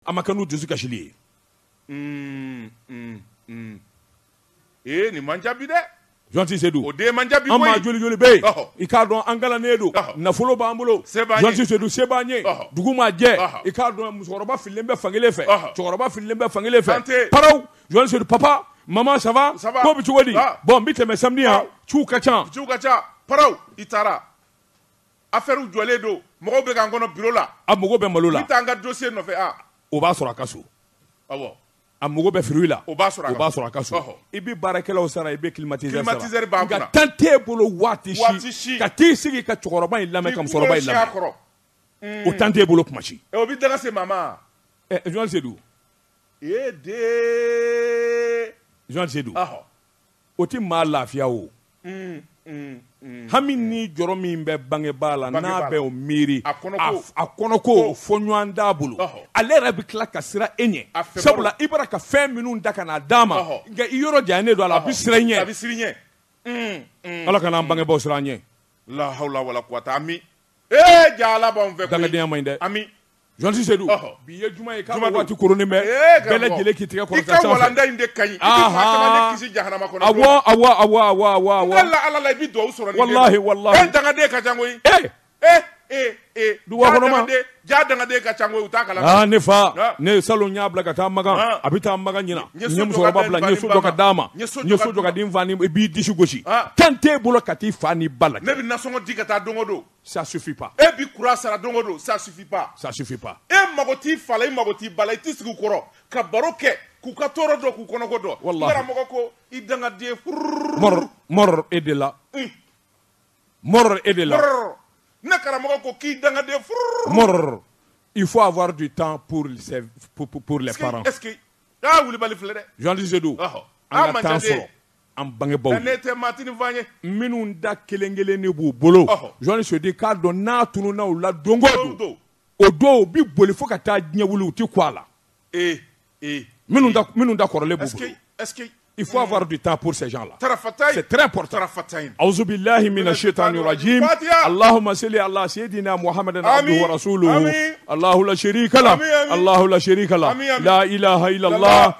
a ma kɛ n'u dusu kasili ye mm, mm, mm. ee nin man ca bi dɛ Jɔnti Sedu o den man ca bi an maa joli joli bɛ yen i k'a dɔn an kalannen don nafolo b'an bolo Jɔnti Sedu se b'an ye dugu ma jɛ i k'a dɔn musokɔrɔba fililen bɛ fankelen fɛ cɛkɔrɔba fililen bɛ fankelen fɛ paraw Jɔnti Sedu papa mama ça va ko bɛ cogo di bon n bɛ tɛmɛ samedi yan ciw ka ca ciw ka ca paraw i taara Affaires jɔlen don mɔgɔw bɛ ka n kɔnɔ bureau la, a mago bɛ malo la, n bɛ taa n ka dossier nɔfɛ a, o b'a sɔrɔ a ka so, awɔ, a mago bɛ fruit la, o b'a sɔrɔ a ka so, ɔhɔ, i bɛ baarakɛlaw sara i bɛ climatiseur sara, climatiseur b'a kunna, nka temps t'e bolo waati si ka t'i sigi ka cɛkɔrɔba in lamɛn ka musokɔrɔba in lamɛn, o temps t'e bolo tuma si, o bɛ danga se maa ma, ɛ Jɔnti Sedu, ee dee, Jɔnti Sedu, ɔhɔ o tɛ maa lafiya o mm, mm, mm. hami ni jɔrɔ min bɛ bangebaa la n'a bɛ o miiri a kɔnɔko fɔ ɲɔgɔn t'a bolo ale yɛrɛ bɛ tila ka sira e ɲɛ sabula i bɔra ka fɛn minnu ta ka n'a d'a ma nka i yɔrɔ janyalen don a la a bɛ sira i ɲɛ ala kana an bangebaaw sira an ɲɛ lahawla wala kuwata ami ee ja ala b'an fɛ dangadenya man ɲi dɛ ami Jɔnti Sedu bi ye juma ye ka waati koronnen bɛ bɛɛ lajɛlen k'i tigɛ kɔrɔta ka walanda in de ka ɲi i bɛ maa caman de kisi jahanama kɔnɔ ala la i bɛ dugawu sɔrɔ walahi walahi dangaden ka ca koyi ee ee ee du ja dangaden ka ca u t'a kalama ne fa ne salon y'a bila ka taa makan a bɛ taa makan ɲinan n ye musokɔrɔba bila n ye so jɔ ka d'a ma n ye so jɔ ka di n fa ma i b'i disi gosi temps t'e bolo ka t'i fa ni ba lajɛ ne bɛ nasɔngɔ di ka taa don o don ça suffit pas e bi kuran sara don o don ça suffit pas ça suffit pas e mago t'i fa la i mago t'i ba la i t'i sigi u kɔrɔ ka baro kɛ k'u ka tɔɔrɔ dɔn k'u kɔnɔko dɔn Wallahi. karamɔgɔ ko i dangaden furururu mɔrɔ mɔrɔ e de la Un. mɔrɔ e de la Brrr. ne karamɔgɔ ko k'i dangaden furururu mɔrɔ il faut avoir du temps pour ses- pour, pour, pour les Est-ce que- parents est-ce que aa wulibali filɛ dɛ Jɔnti Sedu ɔhɔ an ka temps sɔrɔ an bangebaaw ne tɛ matfan ye minnu ta kelen kelen de b'u bolo Jɔnti Sedu k'a dɔn n'a tununna u la don don o don u bɛ boli fo ka taa diɲɛ wuli u tɛ kun a la ee ee minnu ta kɔrɔlen b'u bolo il faut avoir du temps pour ces gens-là awuzu bilahi mina setani rajimi alahuma sali ala seyidina Muhamadi wa rasulu lahalaseyi lahalaseyi la lahalayi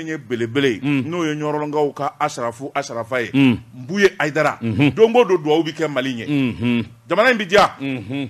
ye belebele n'o ye ɲɔrɔnkaw ka asarafu asarafa ye Mbuye Ayidara don ko don dugawu bɛ kɛ mali ɲɛ jamana in bɛ diya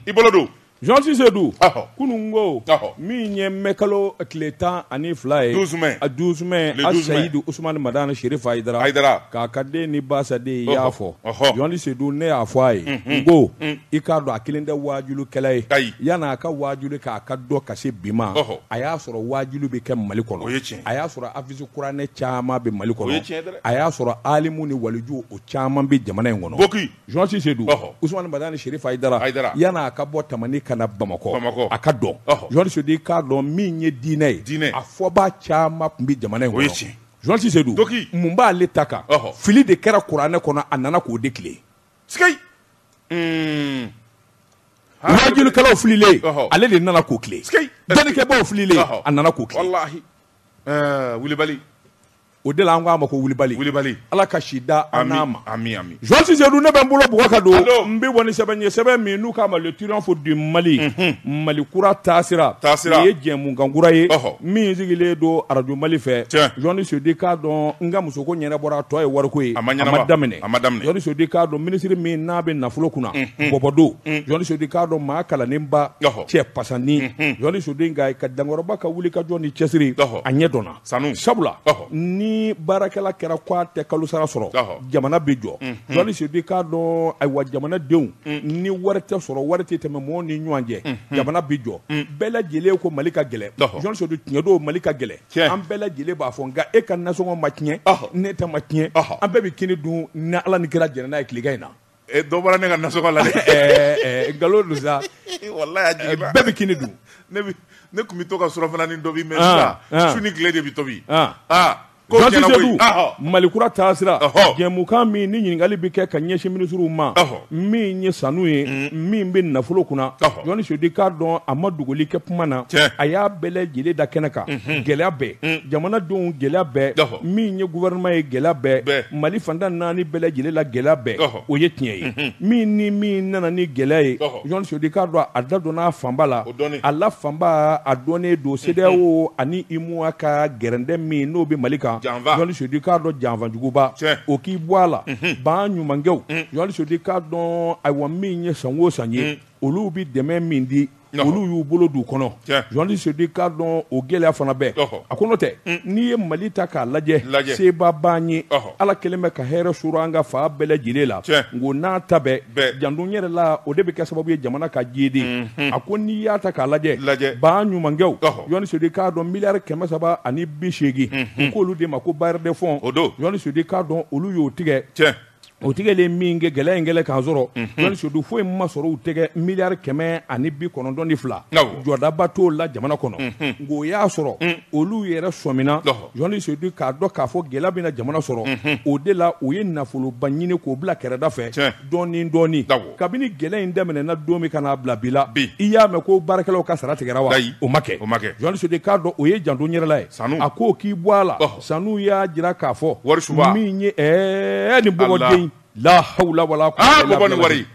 i bolo don Jonti Seydou kunun ko min ye mɛ kalo tile tan ani fila ye douze mai a Seyidu Usumani Madani Sherifu Ayidara k'a ka anniversaire ye i y'a fɔ Jonti Seydou ne y'a fɔ a ye n ko i k'a dɔn a kelen tɛ wajulikɛla ye yan'a ka wajuli k'a ka dɔn ka se bi ma a y'a sɔrɔ wajuli bɛ kɛ mali kɔnɔ a y'a sɔrɔ afisi kuranɛ caman bɛ mali kɔnɔ a y'a sɔrɔ alimu ni waliju o caman bɛ jamana in kɔnɔ Jonti Seydou Usumani Madani Sherifu Ayidara yan'a ka bɔ tamani ka na bamakɔ a ka dɔn Jonti Seydou k'a dɔn min ye diinɛ ye a fɔbaa caman tun bɛ jamana in Jonti Seydou mun b'ale ta kan fili de kɛra kuranɛ kɔnɔ a nana k'o de tilen sikeyi mm. wajulukɛlaw fililen ale de nana k'u tilen dɔnnikɛbaw fililen a nana k'u tilen walahi eh, wulibali o de la an k'a ma ko wulibali wulibali ala ka si da an n'a ma ami ami Jonti Seydou ne bɛ n bolo bugɔ ka don n bɛ bɔ ni sɛbɛn ye sɛbɛn min n'u k'a ma le triomphe du Mali mhm. Mali kura taasira taasira o ye jɛmukan kura ye min sigilen don arajo Mali fɛ Jonti Seydou k'a dɔn n ka musoko ɲɛnabɔra a tɔ ye wariko ye a ma daminɛ a ma daminɛ Jonti Seydou k'a dɔn minisiri min n'a bɛ nafolo kunna bɔbɔ don Jonti Seydou k'a dɔn maa kalannenba Ɔhɔ. cɛ pasannin Jonti Seydou nka ka da n kɔrɔba ka wuli ka jɔ ni cɛsiri Ɔhɔ. a ɲɛ dɔnna Sanu. sabula Ɔhɔ. ni baarakɛla kɛra ko a tɛ kalo sara sɔrɔ Ɔhɔ. jamana bɛ jɔ Jonti Seydou k'a dɔn ayiwa jamanadenw ni wari tɛ sɔrɔ wari tɛ tɛmɛ mɔgɔw ni ɲɔgɔn cɛ jamana bɛ jɔ bɛɛ lajɛlen ko mali ka gɛlɛn Ɔhɔ. Jonti Seydou tiɲɛ don mali ka gɛlɛn Tiɲɛ. an bɛɛ lajɛlen b'a fɔ nka e ka nasɔngɔ ma tiɲɛ Ɔhɔ. ne ta ma tiɲɛ Ɔhɔ. an bɛɛ bɛ kini dun ni ala ni kira jɛnna n'a ye tilegan in na Eh, dɔ bɔra ne ka nasɔngɔ la dɛ Ɛɛ, ɛɛ, nkalon don sa walayi a ɛɛ, jiginna bɛɛ bɛ kini dun ne bi ne kun bi to ka surafananin tobi mɛ Ah, ah. sisan su ni tile de bi tobi Ah. ah ko Jɔnsi tiɲɛna koyi Seku, ahɔ malikura taasira Ɔhɔ. jɛmukan min ni ɲininkali bɛ kɛ ka ɲɛsin minisiriw ma Ɔhɔ. min ye sanu ye mm. min bɛ nafolo kunna Jonti Seydou k'a dɔn a ma dogoli kɛ kuma na a y'a bɛɛ lajɛlen da kɛnɛ kan mm-hmm. gɛlɛya bɛɛ mm. jamanadenw gɛlɛya bɛɛ min ye gouvernement ye gɛlɛya bɛɛ mali fan tan ni naani bɛɛ lajɛlen la gɛlɛya bɛɛ o ye tiɲɛ ye mm-hmm. min ni min nana ni gɛlɛya ye Jonti Seydou k'a dɔn a da donna a fanba la a la fanba a dɔnnen don CEDEAO mm-hmm. ani UEMOA ka gɛrɛntɛ min n'o bɛ mali kan Jonti Seydou k'a dɔn janfa juguba o k'i bɔ a la ban ɲumankɛw Jɔni Sedu i k'a dɔn ayiwa min ye san wo san ye olu bɛ dɛmɛ min di olu y'u bolo d'u kɔnɔ Jɔni Sedu i k'a dɔn o gɛlɛya fana bɛɛ a ko n'o tɛ n'i ye mali ta k'a lajɛ seba ban ye Ala kelen bɛ ka hɛrɛ sɔrɔ an ka fa bɛɛ lajɛlen la ko n'a ta bɛɛ janto yɛrɛ la o de bɛ kɛ sababu ye jamana ka jiidi a ko n'i y'a ta k'a lajɛ ba ɲumankɛw Jɔni Sedu i k'a dɔn miliyari kɛmɛ saba ani bi seegin u k'olu de mako bailleurs de fonds Jɔni Sedu i k'a dɔn olu y'o tigɛ o tigɛlen min kɛ gɛlɛya in kɛlen k'a sɔrɔ Jɔni Sedu foyi ma sɔrɔ u tɛgɛ miliyari kɛmɛ ani bi kɔnɔntɔn ni fila jɔdaba t'o la jamana kɔnɔ nka o y'a sɔrɔ olu yɛrɛ sɔmina Jɔni Sedu i k'a dɔn k'a fɔ gɛlɛya bɛna jamana sɔrɔ o de la u ye nafoloba ɲini k'o bila kɛrɛda fɛ dɔɔni dɔɔni kabini gɛlɛya in daminɛna don min ka na bila bi la i y'a mɛn ko baarakɛlaw ka sara tigɛra wa o ma kɛ Jɔni Sedu i k'a dɔn o ye janto yɛrɛla ye a ko k'i bɔ a la Sanu y'a jira k'a fɔ wari min ye ni bɔ lahawula wala kuwata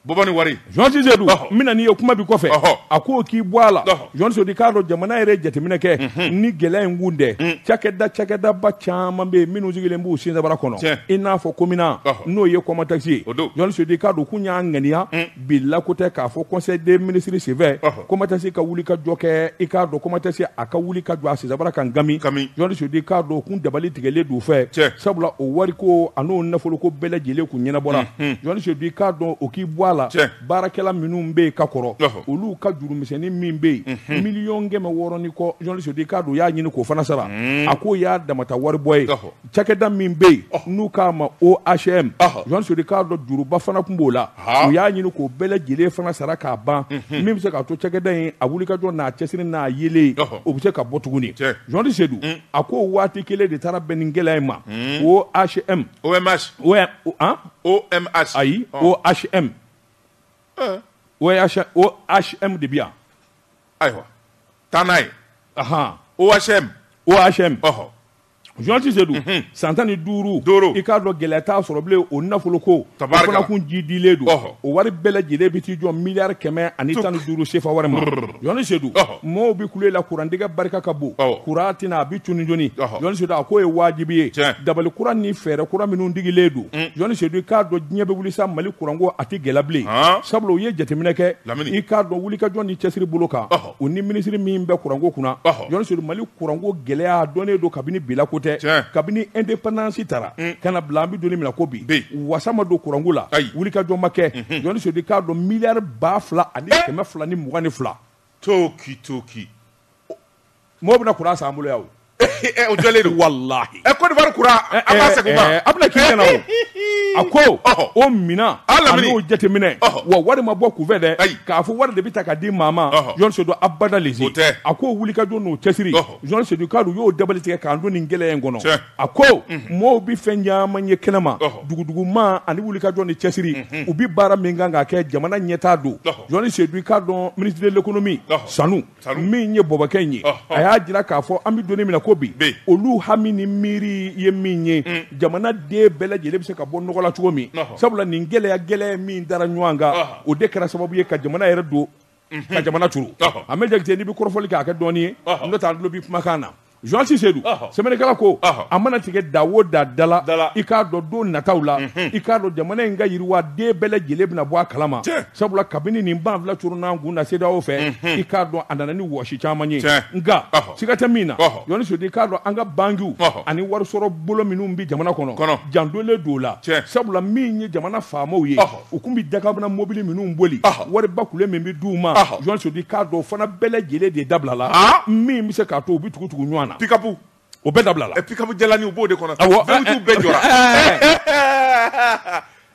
bɔbani wari Jɔni Sedu min na n'i ye kuma bɛ kɔfɛ a ko k'i bɔ a la Jɔni Sedu i k'a dɔn jamana yɛrɛ jateminɛ kɛ ni gɛlɛya in kun dɛ cakɛda cakɛdaba caman bɛ yen minnu sigilen b'u sinsabara kɔnɔ i n'a fɔ komina n'o ye COMATEX ye Jɔni Sedu i k'a dɔn k'u y'a ŋaniya bi lako tɛ k'a fɔ conseil des ministres senfɛ COMATEX ka wuli ka jɔ kɛ i k'a dɔn COMATEX a ka wuli ka jɔ a sinsabara kan gami Jɔni Sedu i k'a dɔn kun dabali tigɛlen d'u fɛ sabula o wariko an'o nafoloko bɛɛ lajɛlen kun ɲɛnabɔra Jɔni Sedu i k'a dɔn o k'i bɔ a la baarakɛla minnu bɛ yen ka kɔrɔ olu ka jurumisɛnnin min bɛ yen miliyɔn kɛmɛ wɔɔrɔ ni kɔ Jɔni Sedu i k'a dɔn y'a ɲini k'o fana sara a k'o y'a damata wari bɔ ye cakɛda min bɛ yen n'u k'a ma OHM Jɔni Sedu i k'a dɔn juruba fana tun b'o la u y'a ɲini k'o bɛɛ lajɛlen fana sara k'a ban mhm. min bɛ se k'a to cakɛda in a wulikajɔ n'a cɛsiri n'a yelen o bɛ se ka bɔ tuguni Jɔni Sedu mm. a ko waati kelen de taara bɛn ni gɛlɛya in ma mm. OHM OMS OMS ayi OHM OHM de bɛ yan ayiwa taa n'a ye OHM OHM Jɔni Sedu san tan ni duuru i k'a dɔn gɛlɛya t'a sɔrɔ bilen o nafoloko fana kun ji dilen don o wari bɛɛ lajɛlen bɛ t'i jɔ miliyari kɛmɛ ani tan ni duuru sefa wari ma Jɔni Sedu mɔɔw bɛ kule la kurantigɛ barika ka bon kuran tɛna a bɛ cuni jɔni Jɔni Sedu a k'o ye wajibi ye dabali kura ni fɛɛrɛ kura minnu tigɛlen don Jɔni Sedu i k'a dɔn diɲɛ bɛ wuli sa mali kuranko a tɛ gɛlɛya bilen sabula u ye jateminɛ kɛ i k'a dɔn wulikajɔ ni cɛsiri bolo kan u ni minisiri min bɛ kuranko kunna Jɔni Sedu mali kuranko gɛlɛya dɔnnen don kabini bi lako tɛ kabini indépendance tara ka na bila an bɛ don min na ko bi wasa ma don kuranko la wulikajɔ ma kɛ Jɔni Sedu i k'a dɔn miliyari ba fila ani kɛmɛ fila ni mugan ni fila to ki to mɔgɔ bɛna kuran san bolo o jɔlen don walahi ɛ Côte d'Ivoire kura an b'a segin o ma a bɛna k'i ɲɛna o a ko o minan an'o jateminɛ wa wari ma bɔ kunfɛ dɛ k'a fɔ wari de bɛ ta ka di maa ma journaliste Sedu abada lezi o tɛ a ko wulikajɔ n'o cɛsiri journaliste Sedu k'a dɔn u y'o dabali tigɛ k'an don nin gɛlɛya in kɔnɔ a ko mɔɔw bɛ fɛn caman ye kɛnɛma duguduguma ani wulikajɔ ni cɛsiri u bɛ baara min kan k'a kɛ jamana ɲɛtaa don journaliste Sedu i k'a dɔn ministre de l'économie Sanu min ye bɔbɔkɛ in ye a y'a jira k'a fɔ an bɛ don min na ko bi olu hami ni miiri ye min ye mm. jamana den bɛɛ lajɛlen bɛ se ka bɔ nɔgɔ la cogo min sabula nin gɛlɛya gɛlɛya min dara ɲɔgɔn kan o de kɛra sababu ye ka jamana yɛrɛ don mhm. ka jamana turu a mɛ Jakite n'i bɛ kɔrɔfɔli kɛ a kɛ dɔɔnin ye n'o tɛ an tulo bɛ kumakan na journaliste Sedu ɔhɔ sɛbɛnnikɛla ko ɔhɔ a mana tigɛ da o da dala dala i k'a dɔn don nataw la mhm. i k'a dɔn jamana in ka yiriwa den bɛɛ lajɛlen bɛna bɔ a kalama sabula kabini nin banfula coronna kun na CEDEAO fɛ mhm. i k'a dɔn a nana ni wɔsi caman ye nka siga tɛ min na journaliste Sedu i k'a dɔn an ka bankiw ani warisɔrɔ bolo minnu bɛ jamana kɔnɔ jandolen don o la sabula min ye jamana faamaw ye u tun bɛ dakabana mobili minnu boli wariba kule min bɛ d'u ma journaliste Sedu k'a dɔn o fana bɛɛ lajɛlen de dabila la min bɛ se k'a to u bɛ tugu tugu ɲɔgɔn na pikapu o bɛɛ dabila la pikapu jalanin u b'o de kɔnɔ bɛɛ jɔra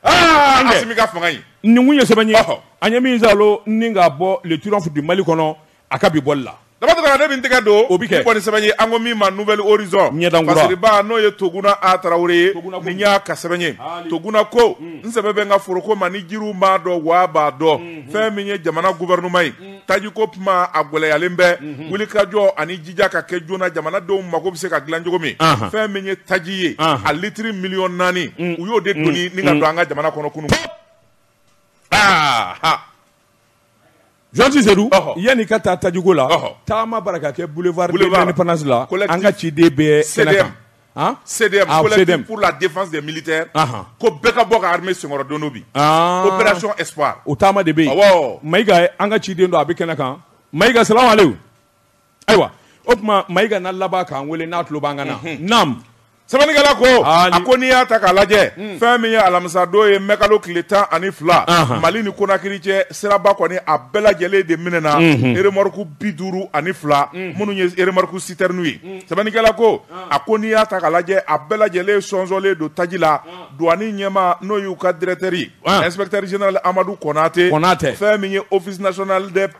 Asimi ka fanga ye nin kun ye sɛbɛn ye an ye min sa ni k'a bɔ Le Triomphe du Mali kɔnɔ a ka bi bɔli la Daba Tunkara de bin tɛgɛ don o bɛ kɛ kɔni sɛbɛn ye an ko min ma Nouvel Horizon ɲɛdankura fasiriba n'o ye toguna a tarawele ye ni y'a ka sɛbɛn ye toguna ko hmm. n sɛbɛ bɛ n ka foroko ma ni jiriw m'a dɔn wa b'a dɔn hmm, hmm. fɛn min ye jamana gouvernement ye tajiko kuma a gwɛlɛyalen bɛ wulikajɔ ani jija ka kɛ joona jamanadenw mago bɛ se ka dilan cogo min fɛn min ye taji ye a litiri miliyɔn naani u y'o de doni ni ka don an ka jamana kɔnɔ kunun aa ah, ha Jɔnti se yanni ka taa tajko la taama bara ka kɛ bufasi la an ka ciden bɛ sɛ sɛla defase mili tɛ ko bɛɛ ka bɔ ka hame sɛkɔrɔ don bi o taama de bɛ yen ma an ka ciden don a bɛ kɛnɛ kan ma ika sa Ayiwa o tuma Mayiga na laban k'an weele n'a tulo b'an kan na naamu sɛbɛnnikɛla ko a ko n'i y'a ta k'a lajɛ hmm. fɛn min ye alamisadon ye mɛkalo tile tan ani fila mali ni konakiri cɛ siraba kɔni a bɛɛ lajɛlen de minɛ na hmm. remorque bi duuru ani fila hmm. minnu ye remorque citerne ye sɛbɛnnikɛla ko a ko n'i y'a ta k'a lajɛ a bɛɛ lajɛlen sɔnsɔnlen don taji la duwani ɲɛma n'o y'u ka directeur ye inspecteur général amadu kɔnate fɛn min ye office national des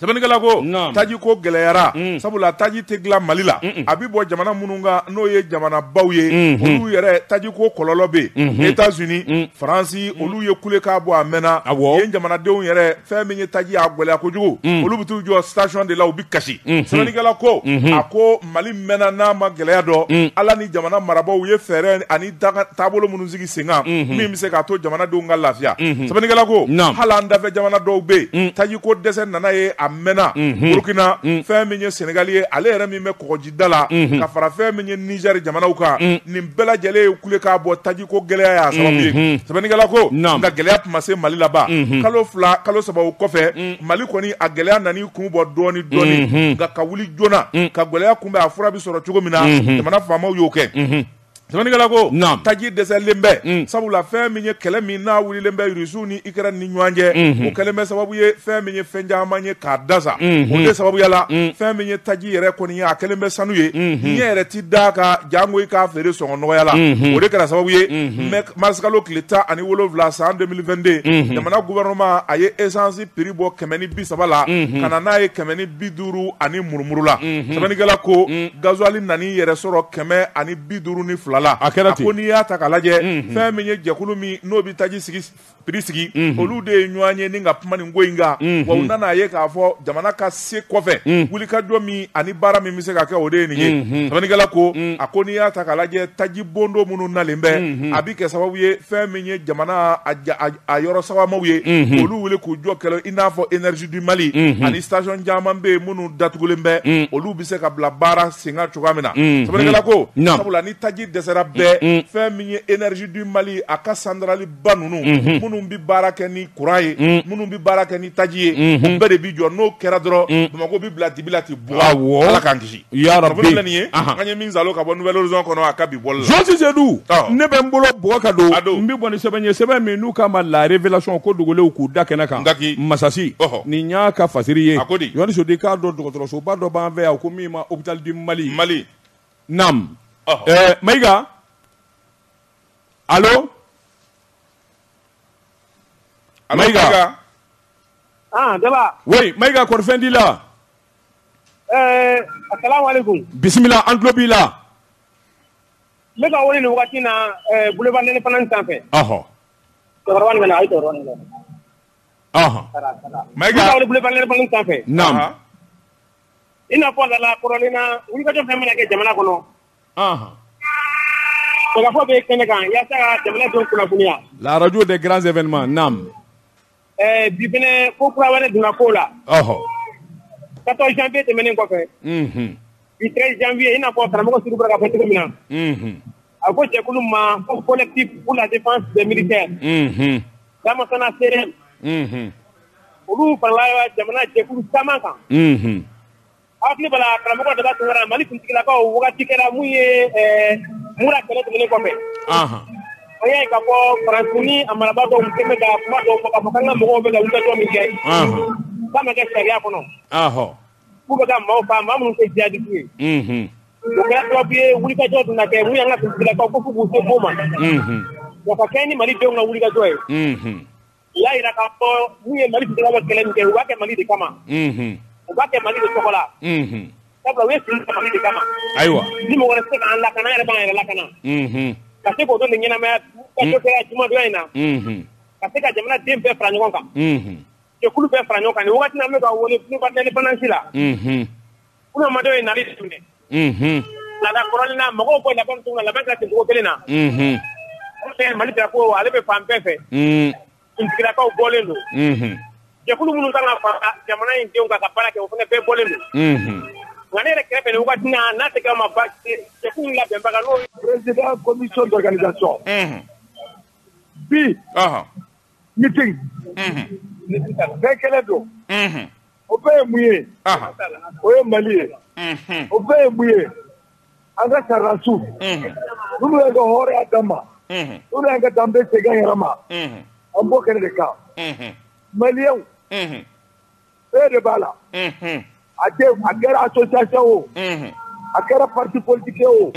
Sɛbɛnnikɛla ko taji ko gɛlɛyara sabula taji tɛ dilan mali la a bɛ bɔ jamana minnu kan n'o ye jamana baw ye olu yɛrɛ taji ko kɔlɔlɔ bɛ États-Unis faransi olu ye kule k'a bɔ a mɛnna yen jamanadenw yɛrɛ fɛn min ye taji a gɛlɛya kojugu olu bɛ t'u jɔ station de la u bɛ kasi sɛbɛnnikɛla ko a ko mali mɛnna n'a ma gɛlɛya dɔn ala ni jamana marabaw ye fɛɛrɛ ani taabolo minnu sigi sen kan min bɛ se k'a to jamanadenw ka lafiya sɛbɛnnikɛla ko hali an dafɛ jamana dɔw bɛ yen taji ko dɛsɛ nana yen a mɛnna burukina fɛn min ye sɛnɛgali ye ale yɛrɛ min bɛ kɔgɔjida la ka fara fɛn min ye nizɛri jamanaw kan nin bɛɛ lajɛlen ye kule k'a bɔ taji ko gɛlɛya y'a sababu ye sɛbɛnnikɛla ko nka gɛlɛya tun ma se mali la ban kalo fila kalo saba o kɔfɛ mali kɔni a gɛlɛya nan'i kun bɔ dɔɔnin dɔɔnin nka ka wuli joona ka gɛlɛya kunbɛn a fura bɛ sɔrɔ cogo min na jamana faamaw y'o kɛ Sɛbɛnnikɛla ko, naamu, taji dɛsɛlen bɛ, un, sabula fɛn min ye kɛlɛ min n'a wulilen bɛ Russie ni Ukraine ni ɲɔgɔn cɛ, unhun, o kɛlen bɛ sababu ye fɛn min ye fɛn caman ye k'a dasa, unhun, o de sababuya la, un, fɛn min ye taji yɛrɛ kɔni ye a kɛlen bɛ sanu ye, unhun, i ɲɛ yɛrɛ tɛ da a kan jango i k'a feere sɔngɔ nɔgɔya la, unhun, o de kɛra sababu ye, unhun, marisikalo tile tan ani wolonwula san 2022, unhun, jamana gouvernement a ye essence prix bɔ kɛmɛ ni bi saba la, unhun, ka na n'a ye kɛmɛ ni bi duuru ani murumuru la sɛbɛnnikɛla ko gazuwali nan'i yɛrɛ sɔrɔ kɛmɛ ani bi duuru ni fila la a kɛra ko n'i y'a ta k'a lajɛ fɛn min ye jɛkulu min n'o bɛ taji sigi piri sigi olu de ye ɲɔgɔn ye ni ka kuma nin ko in kan wa u nana a ye k'a fɔ jamana ka se kɔfɛ wulikajɔ min ani baara min bɛ se ka kɛ o de ye nin ye sɛbɛnnikɛla ko a ko n'i y'a ta k'a lajɛ taji bondon minnu nalen bɛ a bɛ kɛ sababu ye fɛn min ye jamana a yɔrɔ sabamaw ye olu wuli k'u jɔ kɛlɛ i n'a fɔ énergie du mali ani station caman bɛ yen minnu datugulen bɛ olu bɛ se ka bila baara sen kan cogoya min na sɛbɛnnikɛla ko sabula ni taji dɛsɛra bɛɛ fɛn min ye énergie du mali a ka sandarali ba ninnu minnu bɛ baara kɛ ni kuran ye minnu bɛ baara kɛ ni taji ye o bɛɛ de bɛ jɔ n'o kɛra dɔrɔn bamakɔ bɛ bila dibi la ten buwa ala k'an kisi Ya Rabi, kabini ne nana nin ye, anhan, an ye min salo ka bɔ nouvelle horizon kɔnɔ a ka bi bɔli la, Jean Sise Dou, ɔ, ne bɛ n bolo bugɔ ka don, a don, n bɛ bɔ ni sɛbɛn ye sɛbɛn min n'u k'a ma la révélation ko dogolenw k'u da kɛnɛ kan, Ngaki, Masasi, ɔhɔ, nin y'a ka fasiri ye, a ko di, Yohani Sodi k'a dɔn dɔgɔtɔrɔsoba dɔ b'an fɛ yan ko min ma hôpital du Mali, Mali, naam, ɔhɔ, ɛɛ Mayiga, allo, allo Mayiga, Mayiga, an Daba, oui Mayiga kɔri fɛn t'i la Bisimila an tulo b'i la ne ka wele waati na boloba ne fana sanfɛ sanfɛ i na fɔ lala wulikajɔ fɛn bɛna kɛ jamana kɔnɔ bɛ kɛnɛ kan jamana kunnafoniya laj de garanranzefɛ ma Ɛɛ bi fana ko kura wɛrɛ donna ko la, ɔhɔ, 14 janvier tɛmɛnen kɔfɛ, unhun, bi 13 janvier i n'a fɔ karamɔgɔ Sidibe bɔra k'a fɔ cogo min na, unhun, a ko jɛkulu min ma ko collectif pour la défense des militaires unhun, Damasana CDM unhun, olu farala jamana jɛkulu caman kan, unhun karamɔgɔ Daba Tunkara Mali kuntigilakaw waati kɛra mun ye Mura kɛlɛ tɛmɛnen kɔfɛ an y'a ye k'a fɔ Faransi n'a marabaa dɔw tun bɛ ka kuma dɔw fɔ k'a fɔ k'an ka mɔgɔw bɛ ka wulikajɔ min kɛ k'a ma kɛ sariya kɔnɔ k'u bɛ ka maaw faa maa minnu tɛ jihadiste ye o kɛra sababu ye wulikajɔ dun na kɛ min y'an ka finitigilakaw ko k'u se' ma wa ka kɛ ni Mali denw ka wulikajɔ ye u y'a jira k'a fɔ n'u ye Mali finitigilakaw ka kɛlɛ min kɛ u b'a kɛ Mali de kama, unhun, u b'a kɛ Mali de tɔgɔ la, unhun, sabula u ye fini ta Mali de kama, ayiwa, ni mɔgɔ wɛrɛ tɛ se k'an lakana an yɛrɛ b'an yɛrɛ lakana, unhun, ka se k'o don nin ɲɛnamaya ka dɔ kɛ jumadonya in na, unhun, ka se ka jamana den bɛɛ fara ɲɔgɔn kan, unhun, jɛkulu bɛɛ fara ɲɔgɔn kan nin wagati in na an bɛ ka wele Place de l'Indépendance la, unhun Kumadɔ ye nali tun la kɔrɔlina mɔgɔw ko labɛn tun la ka dugu kelen na mali ko ale bɛ fan bɛɛ fɛkaw bɔlen don jɛkulu minnu kan ka jamana in denw kan ka baara kɛ o fana bɛɛ bɔlen don wa ne yɛrɛ kɛrɛfɛ waati n'a tɛ ma ba labɛnbaga n'omi bi bɛɛ kɛlɛ don O bɛɛ ye mun ye o ye Mali ye o bɛɛ ye mun ye an ka sɔrɔdasiw minnu y'an ka hɔrɔnya d'an ma minnu y'an ka danbe segin an yɛrɛ ma an b'o kɛnɛ de kan Maliyɛnw bɛɛ de b'a la a a kɛra association o a kɛra parti politique o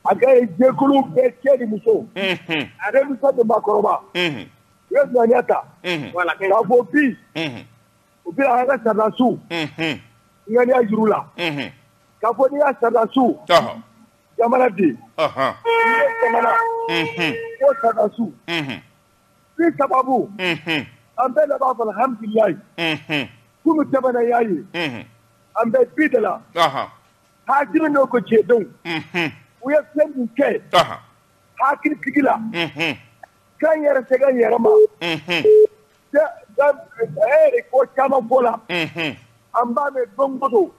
a kɛra jɛkulu bɛɛ cɛ ni muso a denmisɛn ni maakɔrɔba u ye ŋaniya ta ka bɔ bi U bɛna an ka sɔrɔdasiw ŋaniya jira u la k'a fɔ n'an ka sɔrɔdasiw jamana bi jamana ko sɔrɔdasiw de sababu an bɛɛ de b'a fɔ alhamdulilayi kunun tɛmɛna y'a ye an bɛ bi de la hakili n'o ko cɛdenw u ye fɛn min kɛ hakilisigi la k'an yɛrɛ segin an yɛrɛ ma ko caman ko la an b'a mɛn don go don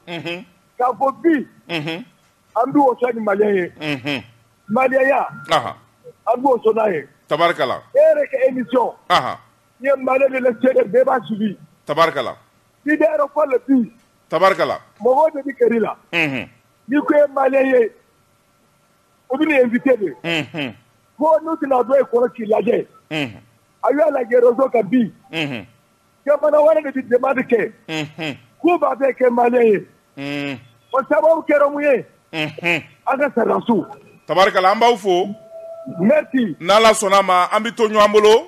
k'a fɔ bi an bɛ waso ni maliya ye maliya an bɛ waso n'a ye tabarikala e yɛrɛ ka émission i ye Maliyɛn de cɛ bɛɛ b'a suivi tabarikala i bɛ yɛrɛ ko la bi tabarikala mɔgɔw de bɛ gɛrɛ i la n'i ko i ye Maliyɛn ye o bɛ nin invité de ko n'u tɛna dɔ ye kɔrɔ k'i lajɛ a y'a lajɛ réseau kan bi jamana wɛrɛ de bɛ demande kɛ k'u b'a fɛ kɛ malien ye o sababu kɛra mun ye an ka sɔrɔdasiw tabarikala an b'aw fo merci n'ala sɔnna a ma an bɛ to ɲɔgɔn bolo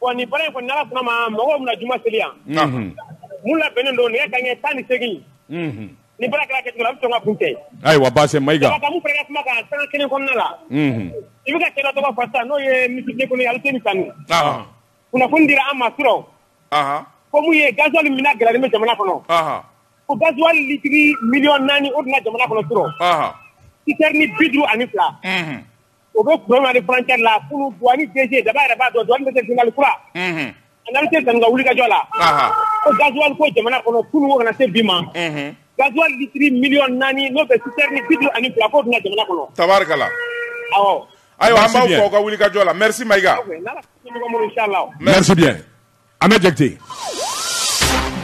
Bon nin baara in kɔni n'Ala sɔnn'a ma mɔgɔw bɛna juma seli yan, unhun, min labɛnnen don nɛgɛ kanɲɛ tan ni seegin, unhun, ni baara kɛra a kɛcogo la a bɛ sɔn ka kuncɛ yen, ayiwa baasi tɛ Mayiga, Jabate an bɛ min fara i ka kuma kan sanga kelen kɔnɔna la, unhun, i bɛ ka cɛ dɔ tɔgɔ fɔ sisan n'o ye Minisiri de l'Economie Aliseni Sanu, ɔnhɔn, kunnafoni dira an ma surɔ, anhan, ko min ye gasoil minɛ gɛlɛyalen bɛ jamana kɔnɔ, anhan, ko gasoil litiri miliyɔn naani o donna jamana kɔnɔ surɔ, anhan, citerne bi duuru ani fila, unhun o bɛ kukɛ la daba yɛrɛ b'a dɔn dɔnkɛ senli kura an tɛ san wuli kajɔ la ko gazli ko jamana kɔnɔ kunun kana se bi ma gazsiriri miy naani n'o bɛ bitu ani bila ko bɛna jamana kɔnɔ tari ayiwa an b'aw ka wuli kajɔ la mɛri ma i Ahmed Jakite.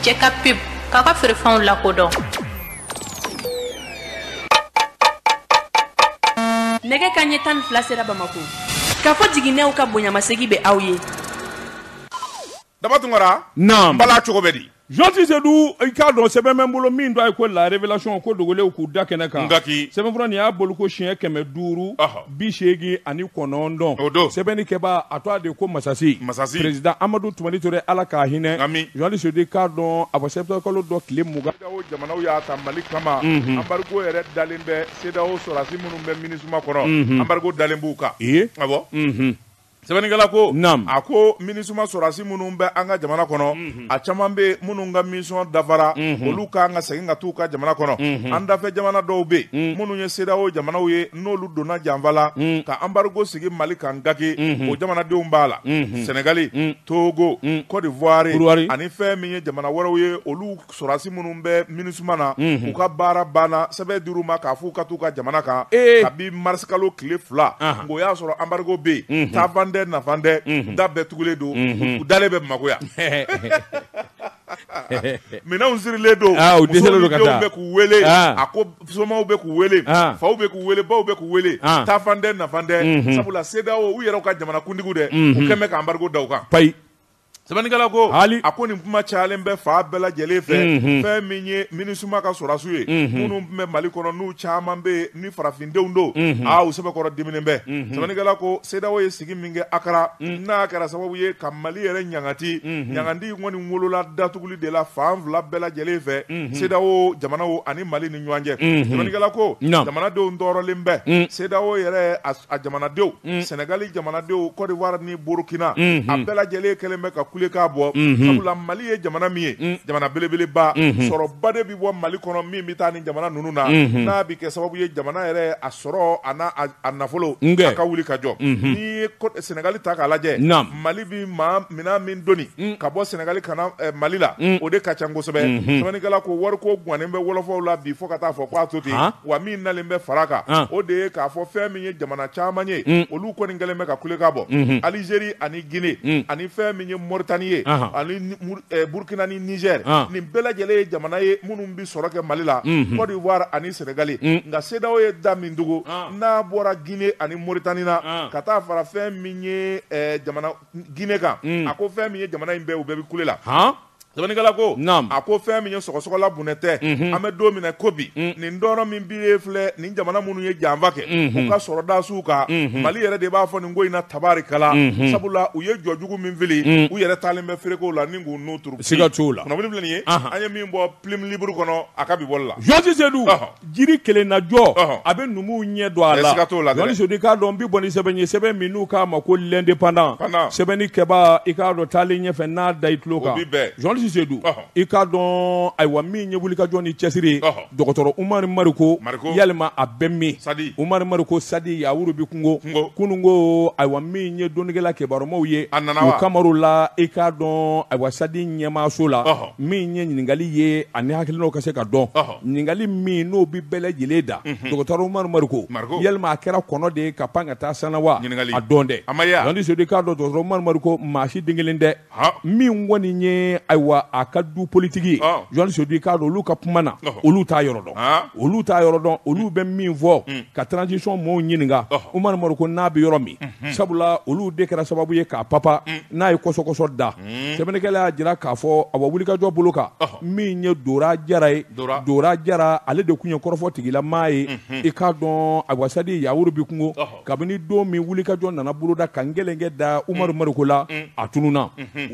Jɛ ka pub k'a ka feerefɛnw lakodɔn. Nɛgɛ kaɲɛ tan ni fila sera Bamako. Kafo Jiginɛw ka bonyamasegin bɛ aw ye. Daba Tunkara. Naamu. Bala cogo bɛ di? Janti Sedu i k'a dɔn sɛbɛn bɛ n bolo min tɔgɔ ye ko La Révélation ko dogolenw k'u da kɛnɛ kan. Gaki. Sɛbɛnfura nin y'a bɔliko siɲɛ kɛmɛ duuru. Ɔhɔ! bi seegin ani kɔnɔntɔn o don sɛbɛnnikɛba a tɔgɔ de ko masasi masasi perezidan amadu tumani ture ala k'a hinɛ amiina janti sedu i k'a dɔn a fɔ kalo dɔ tile mugan jamanaw y'a ta mali kama anbarigo yɛrɛ dalen bɛ CEDEAO sɔrɔdasi minnu bɛ minisuma kɔnɔ anbarigo dalen b'u kan ee a bɔ sɛbɛnnikɛla ko naamu a ko minisuma sɔrɔdasi minnu bɛ an ka jamana kɔnɔ mhm. a caman bɛ minnu ka mission dafara mhm. olu ka kan ka segin ka t'u ka jamana kɔnɔ mhm. an dafɛ jamana dɔw bɛ yen minnu ye CEDEAO jamanaw ye n'olu donna janfa la ka anbarigo sigi Mali kan gaki o jamanadenw b'a la Sɛnɛgali Togo Côte d'Ivoire ani fɛn min ye jamana wɛrɛw ye olu sɔrɔdasi minnu bɛ Minusima na, unhun, u ka baara banna sɛbɛn dir'u ma k'a f'u ka t'u ka jamana kan, ee, kabi mars kalo tile fila, anhan, o y'a sɔrɔ embargo bɛ yen, unhun, taafan tɛ nafan tɛ, unhun, da bɛɛ tugulen don, unhun, u dalen bɛ Bamako yan minɛnw sirilen don, aa, u dɛsɛlen don ka taa, musow ni denw bɛ k'u wele, an, a ko somaw bɛ k'u wele, an, faw bɛ k'u wele, baw bɛ k'u wele, an, taafan tɛ nafan tɛ, unhun, sabula CEDEAO u yɛrɛw ka jamanakuntigiw dɛ, unhun, u kɛlen bɛ ka embargo da u kan, payi. Sɛbɛnnikɛla ko hali a ko nin kuma cayalen bɛ fan bɛɛ lajɛlen fɛ fɛn min ye minisuma ka sɔrɔdasiw ye minnu tun bɛ mali kɔnɔ n'u caman bɛ yen ni farafindenw don u sɛbɛkɔrɔ diminen bɛ sɛbɛnnikɛla ko CEDEAO ye sigi min kɛ akara n'a kɛra sababu ye ka mali yɛrɛ ɲangati ɲangati kɔni wolola datuguli de la fan fila bɛɛ lajɛlen fɛ CEDEAO jamanaw ani mali ɲɔgɔn cɛ sɛbɛnnikɛla ko jamanadenw tɔɔrɔlen bɛ cedeao yɛrɛ a jamanadenw sɛnɛgali jamanadenw cote d'ivoire ni burukina a bɛɛ lajɛlen kɛlen bɛ ka kulekan bɔ sabula mali ye jamana min ye jamana belebeleba sɔrɔ ba de bɛ bɔ mali kɔnɔ min bɛ taa ni jamana ninnu na n'a bɛ kɛ sababu ye jamana yɛrɛ a sɔrɔ a nafolo a ka wuli ka jɔ n'i ye sɛnɛgali ta k'a lajɛ mali bɛ maa minɛn min doni mm. ka bɔ sɛnɛgali ka na mali la mm. o de ka ca kosɛbɛ mm-hmm. sɛbɛnnikɛla ko wariko gannen bɛ wɔlɔfɔw la bi fo ka taa fɔ k'a to ten wa min nalen bɛ fara kan ah. o de ye k'a fɔ fɛn min ye jamana caman ye mm. olu kɔni kɛlen bɛ ka kulekan bɔ mm-hmm. alizeri ani gine ani fɛn min ye moritani ye ah. ani eh, burkina ni nizɛr ah. nin bɛɛ lajɛlen ye jamana ye minnu bɛ sɔrɔ kɛ mali la mm-hmm. cote d'ivoire ani sɛnɛgali nka cedeao ye da min tugu n'a bɔra gine ani moritani na ka taa fara fɛn min ye jamana gine kan a ko fɛn min ye jamana in bɛɛ u bɛɛ bɛ kule la sɛbɛnnikɛla ko a ko fɛn min ye sɔgɔsɔgɔla bonɛ tɛ an bɛ don min na ko bi nin tɔɔrɔ min bi filɛ nin jamana minnu ye janfa kɛ u ka sɔrɔdasiw kan mali yɛrɛ de b'a fɔ nin ko in na tabarikala sabula u ye jɔ jugu min fili u yɛrɛ taalen bɛ fereke o la ni k'u n'u siga t'o la kunnafoni filɛ nin ye an ye min bɔ plume libre kɔnɔ a ka bi bɔli la jɔsi se Jiri kelennajɔ a bɛ numuw ɲɛ don a la jɔsi sedu i k'a dɔn n bɛ bɔ ni sɛbɛn ye sɛbɛn min n'u k'a ma ko l'indépendant sɛbɛnnikɛba i k'a dɔn taalen ɲɛfɛ n'a da i tulo kan jɔsi sedu i k'a dɔn ayiwa min ye wulikajɔ ni cɛsiri dɔgɔtɔrɔ umari mariko yalima a bɛ min umari mariko sadi yawuru bɛ kungo kunun ko ayiwa min ye dɔnnikɛla kibarumaw ye a nana o kama la i k'a dɔn ayiwa sadi ɲɛmaaso la min ye ɲininkali ye ani hakilinaw ka se ka dɔn ɲininkali min n'o bɛ bɛɛ lajɛlen da dɔgɔtɔrɔ Umaru Mariko yalima a kɛra kɔnɔ de ye ka pan ka taa san na wa a dɔn dɛ Landi Sedu i k'a dɔn dɔgɔtɔrɔ Umaru Mariko maa si den kelen tɛ min kɔni ye ayiwa a ka du politiki ye Landi Sedu i k'a dɔn olu ka kuma na olu t'a yɔrɔ dɔn olu t'a yɔrɔ dɔn olu bɛ min fɔ ka transition mɔɔw ɲininka Umaru Mariko n'a bɛ yɔrɔ min sabula olu de kɛra sababu ye k'a papa n'a ye kɔsɔkɔsɔ da sɛbɛnnikɛla y'a jira k'a fɔ ayiwa wulikajɔ bolo kan min ye dora jara ye dora jara ale de tun ye kɔrɔfɔ tigilamaa ye i k'a dɔn ayiwa sadi yawuru bɛ kungo kabini don min wulikajɔ nana boloda ka n gɛlɛnkɛ da umaru mariko la a tununna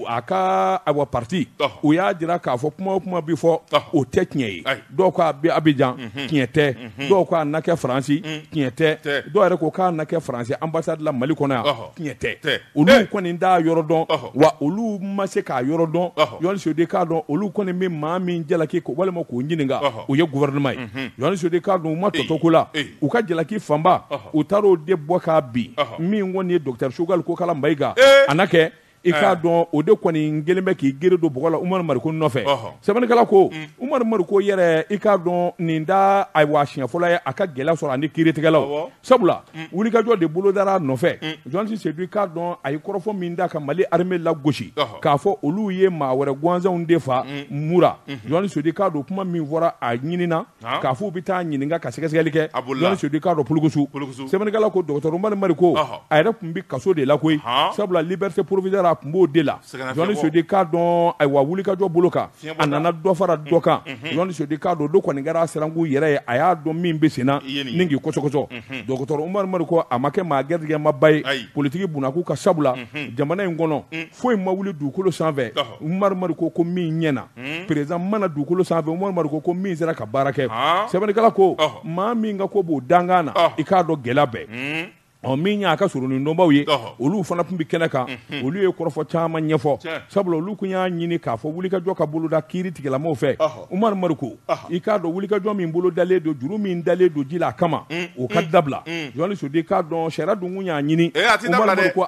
a ka ayiwa pati u y'a jira k'a fɔ kuma o kuma bɛ fɔ o tɛ tiɲɛ ye dɔw ko a bɛ abijan mhm. tiɲɛ tɛ mhm. dɔw ko a na kɛ faransi mhm. tiɲɛ tɛ dɔw yɛrɛ ko k'a na kɛ faransi anbasadi la mali kɔnɔ yan tiɲɛ tɛ olu eh. kɔni t'a yɔrɔ dɔn wa olu ma se k'a yɔrɔ dɔn jɔsi sedu i k'a dɔn olu kɔni bɛ maa min jalaki walima k'o ɲininka o ye gouvernement ye jɔsi sedu i k'a dɔn u ma tɔtɔ ko la u ka jalaki fanba u taar'o de bɔ k'a bin min kɔni ye docteur choguel kokala mayiga eh. a na kɛ i k'a dɔn o de kɔni kɛlen bɛ k'i gere don bɔgɔ la Umar Mariko nɔfɛ sɛbɛnnikɛla ko Umar Mariko yɛrɛ i k'a dɔn nin t'a awa siɲɛ fɔlɔ ye a ka gɛlɛya sɔrɔ ani kiiritigɛlaw sabula wulikajɔ de bolo dara a nɔfɛ journaliste Seydou i k'a dɔn a ye kɔrɔfɔ min da ka Mali armée lagosi k'a fɔ olu ye maa wɛrɛ gansanw de faa Mura journaliste Seydou i k'a dɔn kuma min fɔra a ɲinin k'a fɔ u bɛ taa ɲininka ka sɛgɛsɛgɛli kɛ a bolila journaliste Seydou i k'a dɔn polokosu polokosu sɛbɛnnikɛla ko docteur Umaru Mariko ɔhɔ a yɛrɛ tun bɛ kaso de la koyi ɔnhɔn sabula liberté provisoire a tun b'o de la sɛgɛnnafiɲɛbɔ journaliste Seydou i k'a dɔn ayiwa wulikajɔ bolo kan fiɲɛbɔda a nana dɔ fara dɔ kan unhun journaliste Seydou i k'a dɔn o don kɔni kɛra a sirankun yɛrɛ ye a y'a dɔn min bɛ sen na i ye nin ye ni k'i kɔsɔkɔsɔ unhun docteur Umaru Mariko a ma kɛ maa gɛrijɛgɛmaba ye ayi politique bunakun kan sabula unhun jamana in kɔnɔ un foyi ma wuli dugukolo sanfɛ ɔhɔ Umaru Mariko ko min ɲɛna président ma na dugukolo sanfɛ Umaru Mariko ko min sera ka baara kɛ sɛbɛnnikɛla ko maa min ka ko b'o dankan na i k'a dɔn gɛlɛya bɛɛ ɔ min y'a ka soronadonbaw ye olu fana tun bɛ kɛnɛ kan olu ye kɔrɔfɔ caman ɲɛfɔ sabula olu tun y'a ɲini k'a fɔ wulikajɔ ka boloda kiiritigɛlamaaw fɛ Umaru Mariko i k'a dɔn wulikajɔ min bolo dalen don juru min dalen don ji la a kama o ka dabila journaliste Seydou i k'a dɔn sariya dun y'a ɲini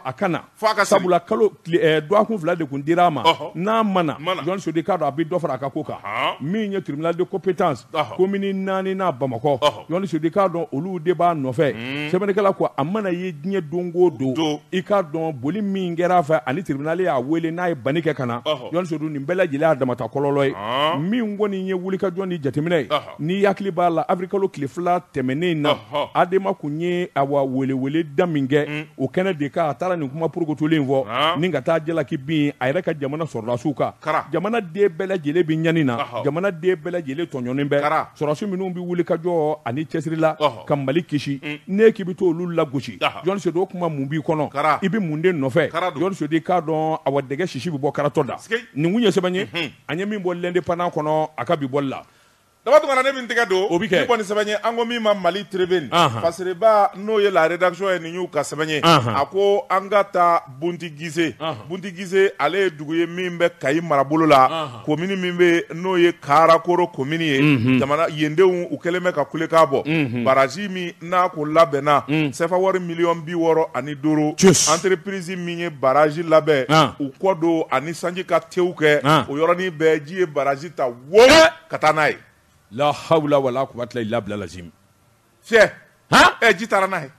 a ka na sabula kalo eh, dɔgɔkun fila de tun dira a ma n'a ma na journaliste Seydou i k'a dɔn a bɛ dɔ fara a ka ko kan min ye tribunal de compétence komini naani na Bamakɔ journaliste Seydou i k'a dɔn olu de b'a nɔfɛ hmm. sɛbɛnnikɛla ko a mana ye diɲɛ don o don i k'a dɔn boli min kɛra a fɛ ani tribunal y'a wele n'a ye banni kɛ ka na journaliste Seydou nin bɛɛ lajɛlen y'a damata kɔlɔlɔ ye min kɔni ye wulikajɔ ni jateminɛ ye N'i hakili b'a la avril kalo tile fila tɛmɛnen in na, ɔhɔ, ADEMA tun ye awa welewele da min kɛ, un, o kɛnɛ de kan a taara nin kuma porokotolen in fɔ, naamu, ni ka taa jalaki bin a yɛrɛ ka jamana sɔrɔdasiw kan, kara, jamana den bɛɛ lajɛlen bɛ ɲani na, ɔhɔ, jamana den bɛɛ lajɛlen tɔɲɔnen bɛ, kara, sɔrɔdasi minnu bɛ wulikajɔ ani cɛsiri la, ɔhɔ, ka Mali kisi, un, n'e k'i bɛ to olu lagosi, ɔhɔ, journaliste Seydou o kuma mun b'i kɔnɔ, kara, i bɛ mun de nɔfɛ, kara don, journaliste Seydou i k'a dɔn awa dɛgɛ sisi bɛ bɔ karatɔ da, sikei, nin tun ye sɛbɛn ye, unhun, an ye min bɔ l'Indépendant kɔnɔ a ka bi bɔli la. Daba Tunkara ne min tɛgɛ don o bɛ kɛ kɔni sɛbɛn ye an ko min ma Mali Tribune fasiriba n'o ye la rédaction ye nin y'u ka sɛbɛn ye a ko an ka taa Buntigise Buntigise ale ye dugu ye min bɛ Kayi marabolo la komini min bɛ n'o ye Karakoro komini ye jamana yendenw u kɛlen bɛ ka kulekan bɔ baraji min n'a ko labɛnna sefa wari miliyɔn bi wɔɔrɔ ani duuru entreprise min ye baraji labɛn u kɔ don ani sanji ka tew kɛ o yɔrɔnin bɛɛ ji ye baraji ta wo ka taa n'a ye la hawula wala kuwata ila bila lazim cɛ ɛ ji taara n'a ye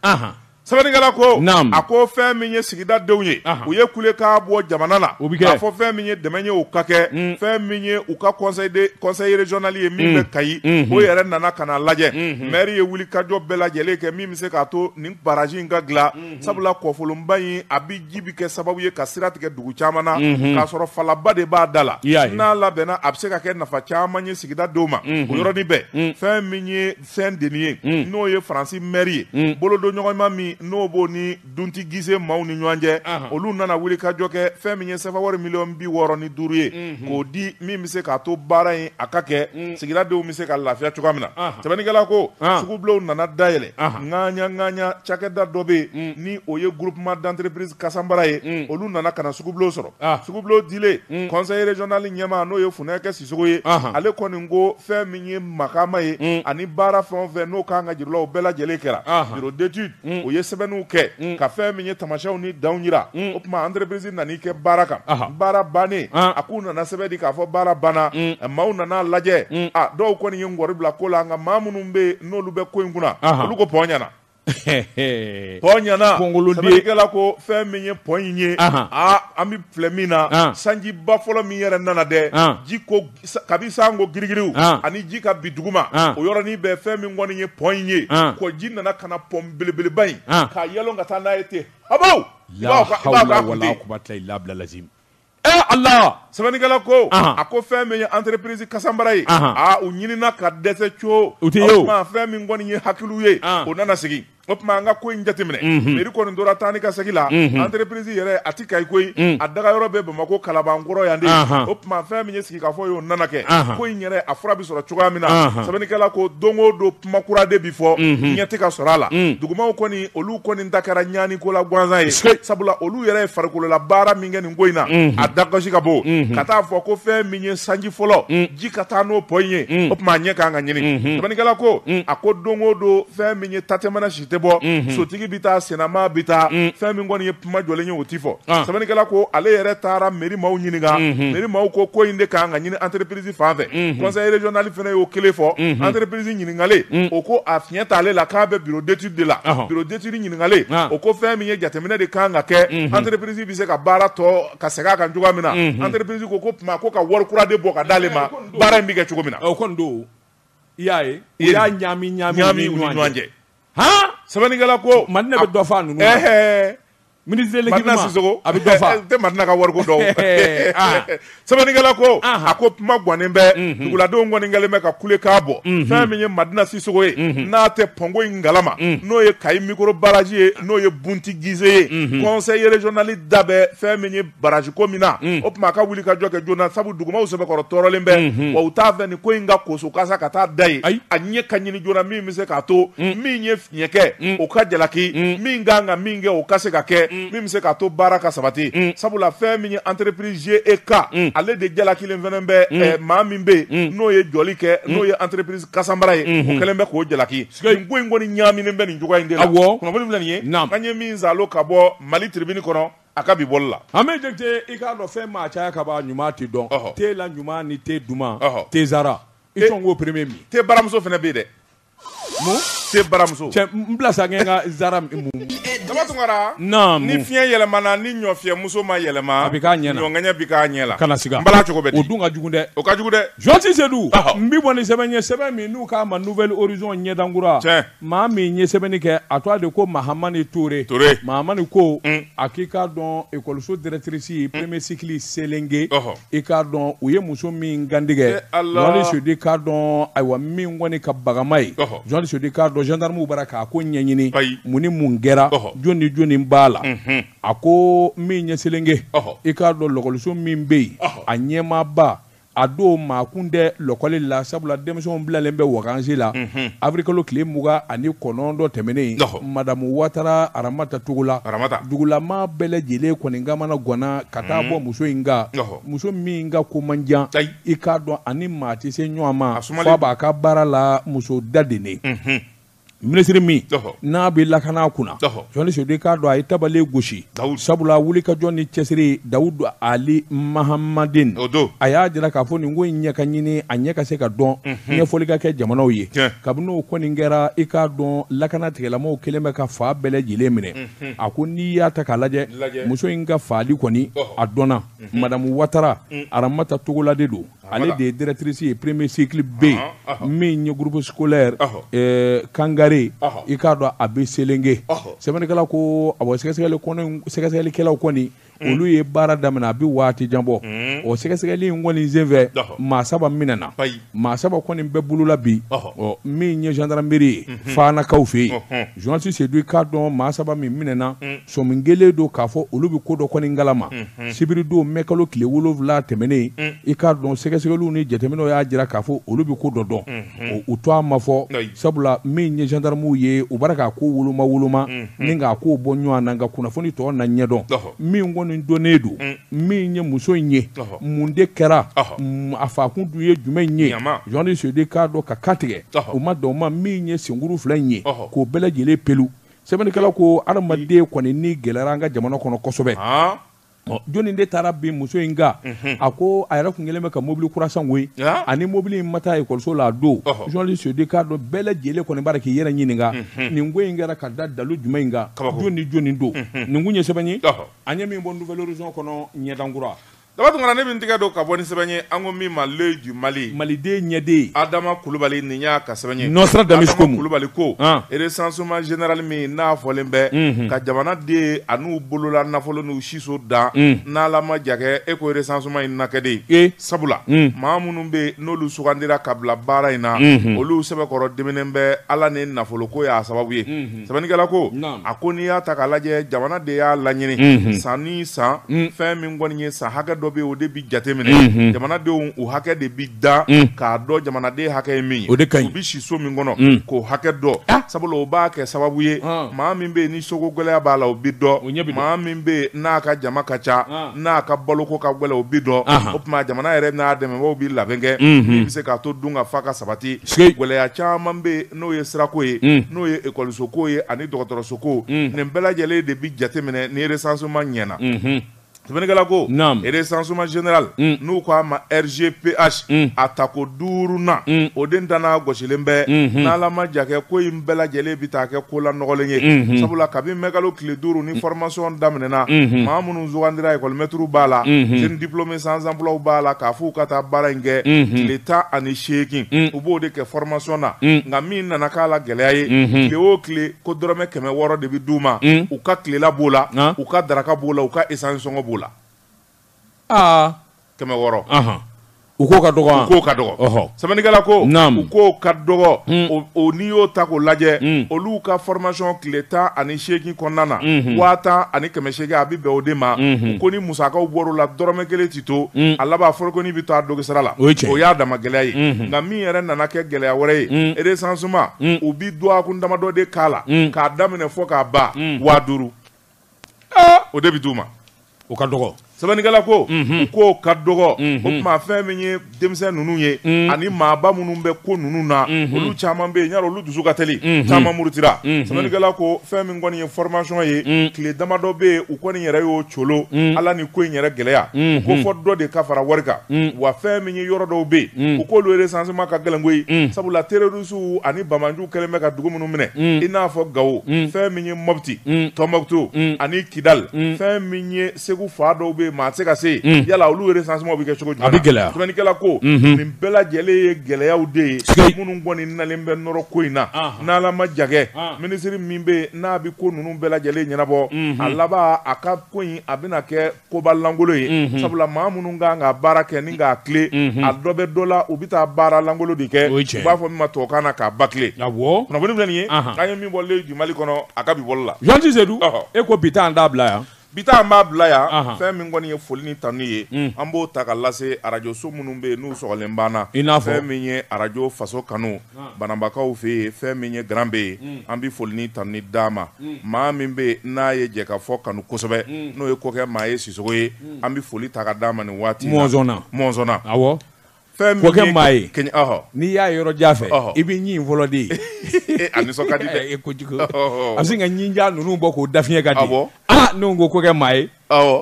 sɛbɛnnikɛla ko a ko fɛn min ye sigida denw ye u ye kulekan bɔ jamana la k'a fɔ fɛn min ye dɛmɛ ye u ka kɛ mm. fɛn min ye u ka conseil régional ye min mm. bɛ kayi mm-hmm. o yɛrɛ nana ka na lajɛ mm-hmm. maire ye wulikajɔ bɛɛ lajɛlen kɛ min bɛ se k'a to nin barrage in ka dilan sabula kɔfolonba in a bɛ ji bɛ kɛ sababu ye ka sira tigɛ dugu caman na k'a sɔrɔ falaba de b'a da la n'a labɛnna a bɛ se ka kɛ nafa caman ye sigidadenw ma o yɔrɔnin bɛɛ fɛn min ye Saint-Denis ye n'o ye Faransi mairie ye bolodonɲɔgɔnma min n'o b'o ni Bunti Gize maaw ni ɲɔgɔn cɛ olu nana wuli ka jɔ kɛ fɛn min ye sefawari miliyɔn bi wɔɔrɔ ni duuru ye k'o di min bɛ se k'a to baara in a ka kɛ sigidadenw bɛ se ka lafiya cogoya min na sɛbɛnnikɛla ko sugubulonw nana dayɛlɛ ŋaɲa ŋaɲa cakɛda dɔ bɛ yen ni o ye groupement d'entreprise Kasanbara ye olu nana ka na sugubulon sɔrɔ sugubulon dilen conseil régional ɲɛmaa n'o ye Funɛkɛ Sisoko ye ale kɔni ko fɛn min ye makama ye ani baara fɛn o fɛn n'o kan ka jir'u la o bɛɛ lajɛlen kɛra bureau d'étude o ye sɛbɛnniw kɛ ka fɛn min ye tamasiyɛnw ni danw yira o tuma entreprise nan'i kɛ baara kan baara bannen a k'u nana sɛbɛn di k'a fɔ baara banna maaw nana lajɛ dɔw kɔni ye ŋɔri bila ko la nka maa minnu bɛ n'olu bɛ ko in kunna olu ko pɔn ɲɛna pɔn ɲɛna sɛbɛnnikɛla ko fɛn min ye pɔn in ye an bɛ filɛ min na sanjiba fɔlɔ min yɛrɛ nana dɛ ji ka bi san ko girigiriw ani ji ka bi duguma o yɔrɔnin bɛɛ fɛn min kɔni ye pɔn in ye ko ji nana ka na pɔn belebeleba in k'a yɛlɛn ka taa n'a ye ten a Ee Ala sɛbɛnnikɛla ko a ko fɛn min ye entreprise Kasanbara ye u ɲinina ka dɛsɛ co o tuma fɛn min kɔni ye hakiliw ye o nana sigi o tuma an ka ko in jateminɛ mairie kɔni tora taa ni ka segin la entreprise yɛrɛ a tɛ Kayi koyi a daga yɔrɔ bɛ Bamakɔ Kalabankɔrɔ yan de o tuma fɛn min k'a fɔ y'o nana kɛ ko in yɛrɛ a fura bɛ sɔrɔ cogoya min na sɛbɛnnikɛla ko don o don kuma kura de bɛ fɔ ɲɛ tɛ ka sɔrɔ a la dugumaw kɔni olu kɔni ta kɛra ɲani ko la gansan ye sabula olu yɛrɛ ye farikolola baara min kɛ nin ko in na a da gasi ka bon ka taa fɔ ko fɛn min ye sanji fɔlɔ ji ka taa n'o pɔn in ye o tuma a ɲɛ kan ka ɲini sɛbɛnnikɛla ko a ko don o don fɛn min ye tatɛmana si tɛ bɔ sotigi bɛ taa sennama bɛ taa fɛn min kɔni ye kuma jɔlen ye o tɛ fɔ sɛbɛnnikɛla ko ale yɛrɛ taara mairie maaw ɲininka mairie maaw ko ko in de kan ka ɲini entreprise fan fɛ conseil régional fana y'o kelen fɔ entreprise ɲininkalen o ko a fiɲɛ t'ale la k'a bɛ bureau d'étude de la bureau d'étude ɲininkalen o ko fɛn min ye jateminɛ de kan ka kɛ entreprise bɛ se ka baara tɔ ka segin a kan cogoya min na entreprise ko ko tuma ko ka wari kura de bɔ ka d'ale ma baara in bɛ kɛ cogo min na o i y'a ye u y'a ɲaami ɲaami ɲaami u ni ɲɔgɔn cɛ han sɛbɛnnikɛla ko Madina bɛ dɔ f'a ninnu na. ɛhɛɛ ministre de Madina l'équipement Sisoko a bɛ dɔ fa tɛ Madina ka wariko dɔn Ɛhɛɛ, ah. sɛbɛnnikɛla ko Ahan. a ko kuma gannen bɛ duguladenw kɔni kɛlen bɛ ka kulekan bɔ fɛn min ye Madina Sisoko ye n'a tɛ pɔnko in kalama n'o ye Kayi micro barrage ye n'o ye Bunti Gize ye conseil régional da bɛ fɛn min ye barrage ko min na o tuma a ka wulikajɔ kɛ joona sabu dugumaw sɛbɛkɔrɔ tɔɔrɔlen bɛ wa u t'a fɛ nin ko in ka koso kasa ka taa da ye a ɲɛ ka ɲini joona min bɛ se k'a to min ye fiɲɛ kɛ o ka jalaki min kan ka min kɛ o ka se ka kɛ min bɛ se k'a to baara ka sabati sabula fɛn min ye entreprise GEK ale de jalakilen fɛnɛ bɛ maa min bɛ yen n'o ye jɔli kɛ n'o ye entreprise kasanbara ye o kɛlen bɛ k'o jalaki ko in kɔni ɲaaminen bɛ nin cogoya in de la kunnafoni filɛ nin ye an ye min saalo ka bɔ mali tribune kɔnɔ A ka bi bɔli la an bɛ jate i k'a dɔn fɛn maa caya ka ban ɲuman tɛ dɔn te la ɲuman ni te duman te zara i sɔn ko premier min te baramuso fɛnɛ bɛ yen dɛ te baramuso cɛ n bila sa n ka zara min daba tunkara ni fiɲɛ yɛlɛmana ni ɲɔfiyɛmuso ma yɛlɛma a bɛ k'a ɲɛ na ɲɔŋɛɲɛ bɛ k'a ɲɛ la kana siga bala cogo bɛ di o dun ka jugu dɛ o ka jugu dɛ journaliste sedu n bɛ bɔ ni sɛbɛn ye sɛbɛn min n'u k'a ma nouvel horizon ɲɛdankura maa min ye sɛbɛnni kɛ a tɔgɔ de ko mahamani ture mahamani ko mm. a k'i k'a dɔn ekɔliso directrice mm. premier cycle selenge i k'a dɔn u ye muso min kantigɛ journaliste eh, sedu i k'a dɔn ayiwa min kɔni ka bagama ye journaliste sedu i k'a dɔn gendarmew bara k'a ko ɲɛɲini mun ni mun kɛra jɔni ni jɔni b'a la mhm. a ko min ɲɛ selenge i k'a dɔn lɔkɔliso min bɛ yen a ɲɛmaaba a don maakun tɛ lɔkɔli la sabula denmisɛnw bilalen bɛ wakansi la mhm. avrikalo tile mugan ani kɔnɔntɔn tɛmɛnen madamu watara aramata togola dugulama bɛɛ lajɛlen kɔni kamanaganna ka taa mhm. bɔ muso in kan muso min ka ko man jan i k'a dɔn ani maa tɛ se ɲɔgɔn ma f'a b'a ka baara la muso da de ne mhm. minisiri min n'a bɛ lakana kunna journaliste sedu i k'a dɔn a ye tabale gosi sabula wulikajɔ ni cɛsiri dawudu ali mahamadin a y'a jira k'a fɔ nin ko in ɲɛ ka ɲini a ɲɛ ka se ka dɔn ɲɛfɔli ka kɛ jamanaw ye kabini o kɔni kɛra i k'a dɔn lakana tigilamaaw kɛlen bɛ ka fan bɛɛ lajɛlen minɛ a ko n'i y'a ta k'a lajɛ muso in ka faali kɔni a dɔnna madamu watara aramata togola de don ale de ye directrice ye premier cycle B min ye groupe scolaire eh, kangare i k'a dɔn a bɛ selenge sɛbɛnnikɛla ko awɔ sɛgɛsɛgɛlikɛlaw kɔni mm. olu ye baara daminɛ a bɛ waati jan bɔ mm. o sɛgɛsɛgɛli in kɔni senfɛ maa saba minɛna maa saba kɔni bɛ bolo la bi ɔ min ye gendarmerie ye mhm. faanakaw fɛ yen journaliste sedu i k'a dɔn maa saba min minɛna mm. sɔmi kɛlen don k'a fɔ olu bɛ ko dɔ kɔni kalama mhm. sibiridon mɛkalo tile wolonwula tɛmɛnen mm. i k'a dɔn sɛgɛsɛgɛliw ni jateminɛw y'a jira k'a fɔ olu bɛ ko dɔ dɔn mhm. u tɔgɔ ma fɔ sabula min ye gendarmew ye u bara k'a ko woloma woloma mhm. ni k'a ko bɔ ɲɔgɔn na nka kunnafoni tɔ na ɲɛdɔn min kɔni dɔnnen don mm. min ye muso in ye mun de kɛra mm, a fakun dun ye jumɛn ye journaliste sedu i k'a dɔn k'a kantigɛ u ma dan o ma min ye senkuru fila in ye k'o bɛɛ lajɛlen pelu sɛbɛnnikɛlaw ko adamaden kɔni ni gɛlɛyara an ka jamana kɔnɔ kosɛbɛ jɔnni de taara bin muso in kan mhm. a ko a yɛrɛ kun kɛlen bɛ ka mobili kura san koyi ani mobili in ma taa ekɔliso la a don jɔnli sodi k'a dɔn bɛɛ lajɛlen kɔni b'a k'i yɛrɛ ɲininka mhm. nin ko in kɛra ka da dalu jumɛn in kan jɔn ni jɔnni don mhm. nin kun ye sɛbɛn ye an ye min bɔ nouvel horizon kɔnɔ ɲɛdankura Daba tunkara ne min tɛgɛ don ka bɔ ni sɛbɛn ye an ko min ma l'œil du mali maliden ɲɛden adama kulubali ni y'a ka sɛbɛn ye Nostradamus kulubali ko recensement général min n'a fɔlen bɛ ka jamanaden an'u bolola nafolo n'u siso dan n'ala ma jakɛ e ko recensement in na kɛ de ee sabula maa minnu bɛ yen n'olu sugandira ka bila baara in na olu sɛbɛkɔrɔ diminen bɛ ala ni nafolo ko y'a sababu ye sɛbɛnnikɛla ko a ko n'i y'a ta k'a lajɛ jamana de y'a laɲini san ni san fɛn min kɔni ye san hakɛ dɔ bɛ o de bɛ jateminɛ jamanadenw u hakɛ de bɛ dan k'a dɔn jamanaden hakɛ ye min ye o de ka ɲi u bɛ si so min kɔnɔ k'o hakɛ dɔn ah! sabula o b'a kɛ sababu ye ah! maa min bɛ yen ni soko gɛlɛya b'a la o bɛ dɔn maa min bɛ yen n'a ka jama ka ca ah! n'a ka baloko ka gɛlɛn o bɛ dɔn o tuma jamana yɛrɛ n'a dɛmɛbaaw bɛ labɛn kɛ min bɛ se k'a to dunkafa ka sabati gɛlɛya caman bɛ yen n'o ye sirako ye n'o ye ekɔlisoko ye ani dɔgɔtɔrɔsoko nin bɛɛ lajɛlen de bɛ jateminɛ ni recensement ɲɛna sɛbɛnnikɛla ko recensement général n'u ko a ma RGPH a tako duurunan o den tanan gosilen bɛ n'ala ma jakɛ ko in bɛɛ lajɛlen bɛ taa kɛ ko la nɔgɔlen ye sabula kabini mɛkalo tile duuru ni formation daminɛna maa minnu sugandira ekɔli mɛtiriw b'a la jeunes diplômés sans emploi b'a la k'a fɔ u ka taa baara in kɛ tile tan ani seegin u b'o de kɛ formation na nka min nana k'a la gɛlɛya ye tile o tile ko dɔrɔmɛ kɛmɛ wɔɔrɔ de bɛ d'u ma u ka tilela b'o la u ka daraka b'o la u ka essence sɔngɔ b'o la kɛmɛ wɔɔrɔ u k'o ka dɔgɔ k'o ka dɔgɔ sɛbɛnnikɛla ko u k'o ka dɔgɔ mm. o n'i y'o ta k'o lajɛ mm. olu ka formation tile tan ani seegin kɔnɔna na mm-hmm. waa tan ani kɛmɛ seegin a bɛ bɛn o de ma mm-hmm. u ko ni musakaw bɔr'o la dɔrɔmɛ kelen ti to mm. a laban forokonin bɛ to a dogisara la o y'a dama gɛlɛya ye mm-hmm. nka min yɛrɛ nana kɛ gɛlɛya wɛrɛ ye recensement u bi dɔgɔkun damadɔ de k'a la k'a daminɛ fɔ k'a ban waa duuru o de bɛ d'u ma o ka dɔgɔ sɛbɛnnikɛla ko u k'o ka dɔgɔ o tuma fɛn min ye denmisɛn ninnu ye ani maaba minnu bɛ ko ninnu na olu caman bɛ yen y'a dɔn olu dusu ka teli caman murutira sɛbɛnnikɛla ko fɛn min kɔni ye formation ye tile damadɔ bɛ yen u kɔni yɛrɛ y'o colo ala ni ko in yɛrɛ gɛlɛya u ko fɔ dɔ de ka fara wari kan wa fɛn min ye yɔrɔ dɔw bɛ yen u k'olu recensement ka gɛlɛn koyi sabula teri Rusu ani banbaanciw kɛlen bɛ ka dugu minnu minɛ, un, i n'a fɔ Gawo, un, fɛn min ye Mopti, un, Tɔnbukutu, un, ani Kidali, un, fɛn min ye Segu fan dɔw bɛ yen maa tɛ se ka se yen, un, yala olu recensement bɛ kɛ cogo jumɛn? A bɛ gɛlɛya, sɛbɛnnikɛla ko, unhun, nin bɛɛ lajɛlen ye gɛlɛyaw de ye, siga t'a la, minnu kɔni nalen bɛ nɔrɔ ko in na, anhan, n'Ala ma jan kɛ, an, minisiri min bɛ yen n'a bɛ ko ninnu bɛɛ lajɛlen ɲɛnabɔ, unhun, a laban a ka ko in a bɛna kɛ koba lankolon ye mm -hmm. sabula maa minnu kan ka baara kɛ ni k'a tilen mm -hmm. a dɔ bɛ dɔ la u bɛ taa baara lankolon de kɛ u b'a fɔ min ma tubabukan na k'a bâcler kunnafoni filɛ nin ye k'an ye min bɔlen bi mali kɔnɔ a ka bi bɔli la journaliste sedu e ko bi ta an t'a bila yan bi ta an b'a bila yan fɛn min kɔni ye foli ni tanu ye mm. an b'o ta ka lase arajo so minnu bɛ yen n'u sɔgɔlen b'an na i n'a fɔ fɛn min ye arajo faso kanu banabakaw fɛ yen fɛn min ye garan bɛ yen mm. an bɛ foli ni tanuni d'a ma mm. maa min bɛ yen n'a ye jɛkafɔ kanu kosɛbɛ mm. n'o ye kɔkɛ maye sisɔkɔ ye an bɛ foli ta ka d'a ma nin waati mɔnzɔnna mɔnzɔnna awɔ fɛn min kɔkɛ maye kɛɲɛ ɔhɔ n'i y'a yɔrɔ jan fɛ i bɛ ɲin fɔlɔ de ye eh, a nisɔn ka di dɛ e kojugu a bɛ se ka ɲin jan ninnu bɔ k'o dafiɲɛ ka di awɔ aa ah, ne ko kɔkɛ maye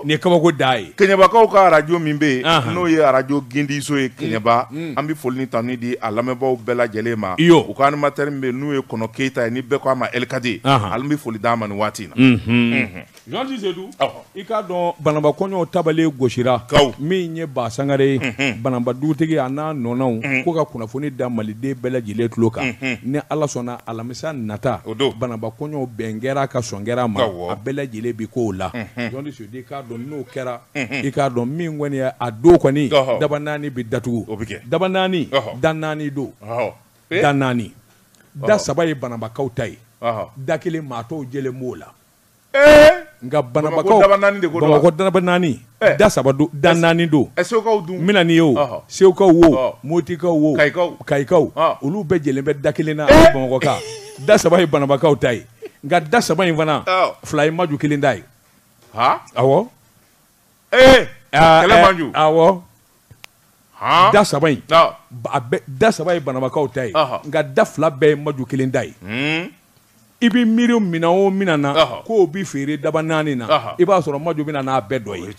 nin ye kabako dan ye keɲɛbakaw ka arajo min bɛ yen n'o ye arajo gindiso ye keɲɛba mm, mm. an bɛ foli ni tanuni di a lamɛnbaaw bɛɛ lajɛlen ma u ka animatɛri min bɛ n'o ye kɔnɔ keyita ye ni bɛɛ ko a ma ɛlikadi an bɛ foli d'a ma nin waati in na mm-hmm. journaliste Sedu i k'a dɔn banaba kɔɲɔw tabale gosira kaw min ye ba sangare ye mm-hmm. banaba dugutigi a n'a nɔnɔw mm-hmm. ko ka kunnafoni da maliden bɛɛ lajɛlen tulo kan ni ala sɔnna alamisa sa nata o don banaba kɔɲɔw bɛn kɛra ka sɔn kɛra ma a bɛɛ lajɛlen bi k'o la journaliste sedu i k'a dɔn n'o kɛra i k'a dɔn min kɔni ye a don kɔni daba naani bɛ datugu o bɛ kɛ daba naani da naani don da naani da saba ye banabakaw ta ye da kelen maa tɔw jɛlen b'o la Nka banabakaw bamakɔ daba naani da saba don da naani don n' ye o segukaw wo motikaw wo kayikaw olu bɛɛ jɛlen bɛ da kelen na bamakɔ ka da saba ye banabakaw ta ye nka da saba in fana fila ye maju kelen ta ye ee kɛlɛ maju awɔ da saba in da saba ye banabakaw ta ye nka da fila bɛɛ ye maju kelen ta ye hmm. i bɛ miiri minɛn o minɛn na k'o bɛ feere daba naani na i b'a sɔrɔ maju bɛ na n'a bɛɛ dɔ ye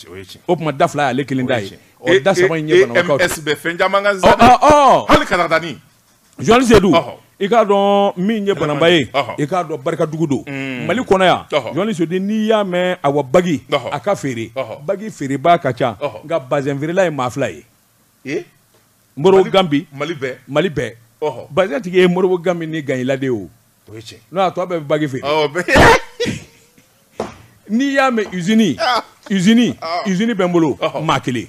o tuma da fila y'ale kelen ta ye ɔ da saba in ye banabakaw ta ye. MS bɛ fɛn caman kan sisan dɛ hali katakatani. Journaliste Seydu i k'a dɔn min ye banaba ye i k'a dɔn barikadugu don mm. mali kɔnɔ yan journaliste Seydu n'i y'a mɛn awa bagi a ka feere bagi feerebaa ka ca nka bazɛn feerela ye maa fila ye modibo gambi mali bɛɛ bazɛn tigi ye modibo gambi ni gaɲi la de ye o n'o y'a to a bɛɛ bɛ bagi feere n'i y'a mɛn usini usini usini bɛ n bolo maa kelen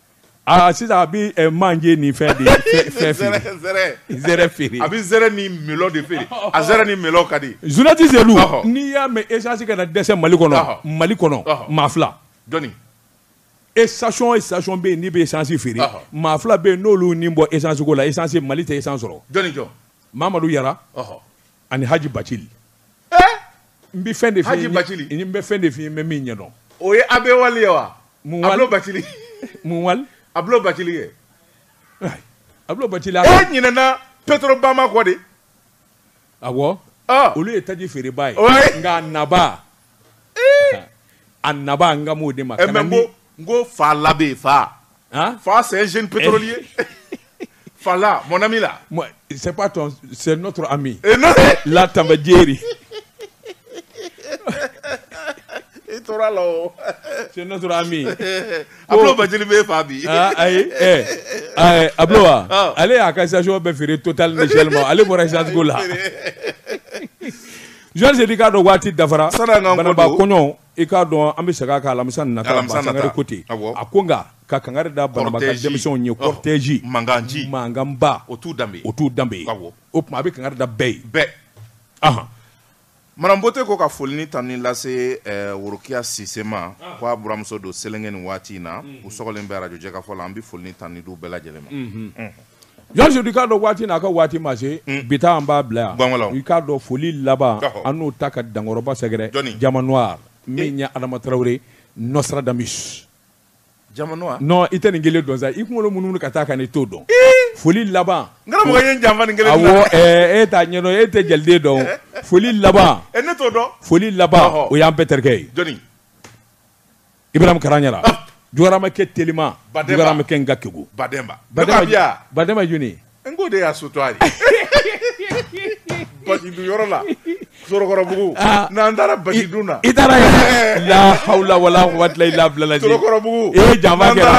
Aa sisan a bɛ ɛ manje ni fɛn de fɛ- fɛ feere. Zɛrɛ- zɛrɛ. Zɛrɛ feere. a bɛ zɛrɛ ni melɔn de feere a zɛrɛ ni melɔn ka di Journaliste Seydou Ɔhɔ. n'i y'a mɛn esansi kana dɛsɛ mali kɔnɔ Ɔhɔ. mali kɔnɔ Ɔhɔ. maa fila jɔnni station station bɛ yen n'i bɛ esansi feere Ɔhɔ. maa fila bɛ yen n'olu ni bɔ esansi ko la esansi mali tɛ esansi sɔrɔ jɔnni jɔn mamadu yara ɔhɔ ani haji bacili eh? n bɛ fɛn de f'i ye n bɛ fɛn de f'i ye n bɛ min ɲɛdɔn o ye abe wali ye wa mun wali ablo bacili mun wali ablo bacili ye ablo bacili e ɲinɛna petrobama kɔ de awɔ olu ye taji feereba ye nka naba a naba n kan b'o de ma. Eh, kana ni... n ko fa labe fa. Hein? Fa c'est un jeune pétrolier. Eh. Fa là mon ami là. Moi c'est pas ton c'est notre ami. Et eh, non. La Tambadjeri. I tora la o. C'est notre ami. Ablo oh. Bacili bɛ fa bi. Ah ayi eh ayi Ablo wa. Ah. Ale y'a ka station bɛɛ feere Total ni Shell ma ale bɔra essence ko la. Journaliste i k'a dɔn waati dafara Banamba kɔɲɔ i k'a dɔn an bɛ segin a kan alamisa nata Sangare côté a ko nka ka kangari da Banamba denmisɛnw ye cortège mankan mankanba o t'u danbe ye o t'u danbe ye o tuma a bɛ kangari da bɛɛ ye Madame Bote ko ka foli ni tanuni lase worokiya Sise ma k'a buranmuso don Selenge ni waati in na u sɔgɔlen bɛ arajo Jɛkafɔ la an bɛ foli ni tanuni d'u bɛɛ lajɛlen ma Journaliste Seydou i k'a dɔn waati n'a ka waati ma se bi ta an b'a bila yan i k'a dɔn foli laban an n'o ta ka dankɔrɔba sɛgɛrɛ Diamant Noir min ye Adama Traoré Nostradamus i tɛ nin kelen dɔn sa i kunkolo munumunu ka taa ka n'i t'o dɔn foli laban e t'a ɲɛ e tɛ jeli dɔn foli laban e foli laban o y'an bɛɛ terikɛ ye I bɛ kalan ɲɛna jɔyɔrɔma kɛ tma ba bɛ kɛ n ka kɛku ba bama jni n ko de y'a so to a ye ba yɔrɔ la sokɔrɔbugu n'an taara baki dun na i taara lala wala waatila i labilabugu e ja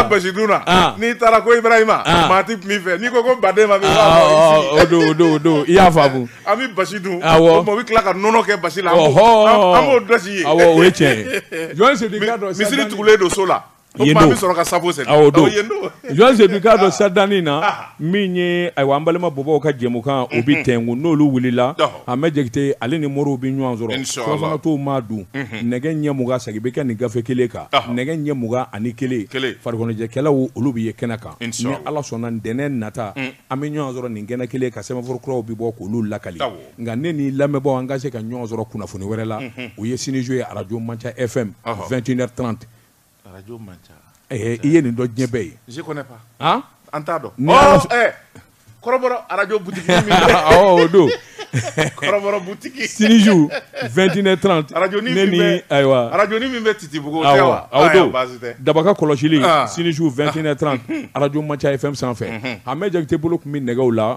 basi dun na n'i taara ko i ma maa tɛ tun fɛ n'i ko ko ba ma don don i y'a faamumu An bɛ basi dun o bɛ tila ka nɔnɔ kɛ basi la an b'o dɔsi ye o ye tiɲɛ ye misiri tugulen don so la bɛ sɔrɔ ka sabu sen donse'a dɔn sadanni na min ye ayiwa an balima bɔbɔw ka jɛmukan o bɛ tɛkun n'olu wulila Amɛdi Jakite ale ni moriw bɛ ɲɔgɔn sɔrɔ surafana tɔw maa dun nɛgɛ ɲɛ mugan segin bɛ kɛ nin gafe kelen kan nɛgɛ ɲɛ mugan ani kelen farikoloɲɛnajɛkɛlaw olu bɛ ye kɛnɛ kan ni ala sɔnna ntɛnɛn nata an bɛ ɲɔgɔn sɔrɔ nin kɛnɛ kelen kan sɛbɛnfura kuraw bɛ bɔ k'olu lakali nka ne ni lamɛnbaaw an ka se ka ɲɔgɔn sɔrɔ kunnafoni wɛrɛ la o ye sini su ye arajo manca fm 21h30 arajo manca eh, i ye nin dɔ diɲɛ bɛɛ ye je connais pas an t'a dɔn oh, eh, kɔrɔbɔrɔ arajo butigi min o don kɔrɔbɔrɔ butigi sini su 21h30 arajonin ne ni ayiwa arajonin min bɛ titibugu tɛ wa o don Daba ka kɔlɔsili sini su 21h30 arajo manca FM sanfɛ Ahmed Jakite bolo tun bɛ nɛgɛw la.